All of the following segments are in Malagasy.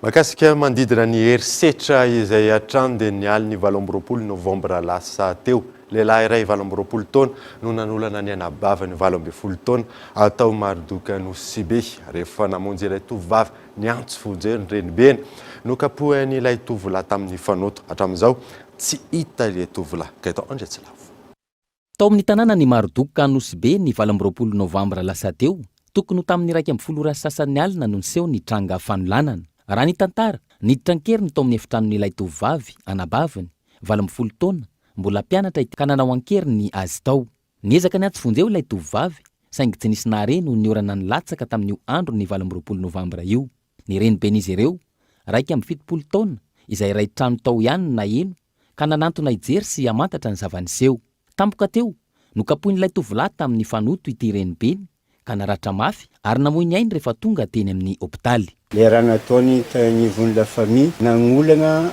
Mahakasika manodidina ny herisetra izay hatrany dia ny alin'ny valo amby roapolo novambra lasa teo, lehilahy iray valo amby roapolo taona no nanolana ny anabaviny valo ambin'ny folo taona tao Marodoky Anosibe. Rehefa namonjy ilay tovovavy niantso vonjeo ny renibeny, nokapohin'ilay tovolahy tamin'ny fanoto. Hatramin'izao tsy hita ilay tovolahy. Gaëtan Andriatsilavo. Tao amin'ny tanànan'i Marduk Anosy-Be ny valo amby roapolo novambra lasa teo, tokony ho tamin'ny iraika ambin'ny folo ora sy sasany alina no niseho ny tranga fanolanana. Raha ny tantara, niditra an-keriny tao amin'ny efitranon'ilay tovovavy, anabaviny, valo ambin'ny folo taona, mbola mpianatra ity ka nanao an-keriny azy tao. Niezaka niatsy vonjy eo ilay tovovavy, saingy tsy nisy nahare noho ny orana nilatsaka tamin'io andron'ny valo amby roapolo novambra io. Ny reniben'izy ireo, iraika amby fitopolo taona, izay iray trano tao ihany no naheno ka nanantona hijery sy hamantatra ny zava-niseho. Tampoka teo, nokapohin'ilay tovolahy tamin'ny fanoto ity renibeny ka naratra mafy ary namoy ny ainy rehefa tonga teny amin'ny hopitaly. Niaraha-nataony teo anivon'ny La Famille nanolana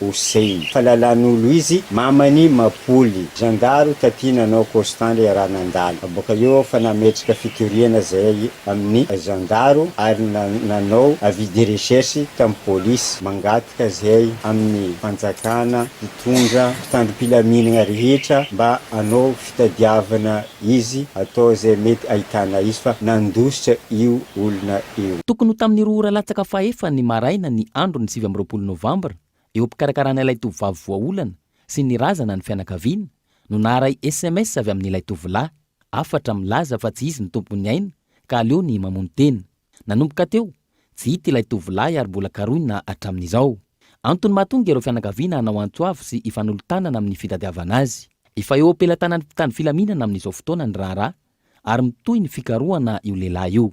Hossein. Fa lalan'olo izy mamany mapoly. Zandaro taty nanao constant le raha nandalo. Boka eo aho fa nametraka fitoriana zahay amin'ny zandaro ary nanao avis de recherche tamin'ny police. Mangataka zahay amin'ny fanjakana, mpitondra, mpitandro-pilaminagna rehetra mba hanao fitadiavana. Izy atao izay mety ahitana izy fa nandositra io olona io. Tokony ho tamin'ny roa ora latsaka fahefany maraina ny andron'ny sivy amby roapolo novambra, eo am-pikarakarana ilay tovovavy voaolana sy ny razana ny fianakaviana, no naharay sms avy amin'ilay tovolahy hafatra milaza fa tsy izy ny tompon'ny aina ka aleony mamono tena. Nanomboka teo, tsy hita ilay tovolahy ary mbola karohina hatramin'izao. Antony mahatonga ireo fianakaviana hanao antso avo sy hifanolo-tanana amin'ny fitadiavana azy. Efa eo am-pelatanan'ny mpitandro filaminana amin'izao fotoana ny raharaha ary mitohy ny fikarohana io lehilahy io.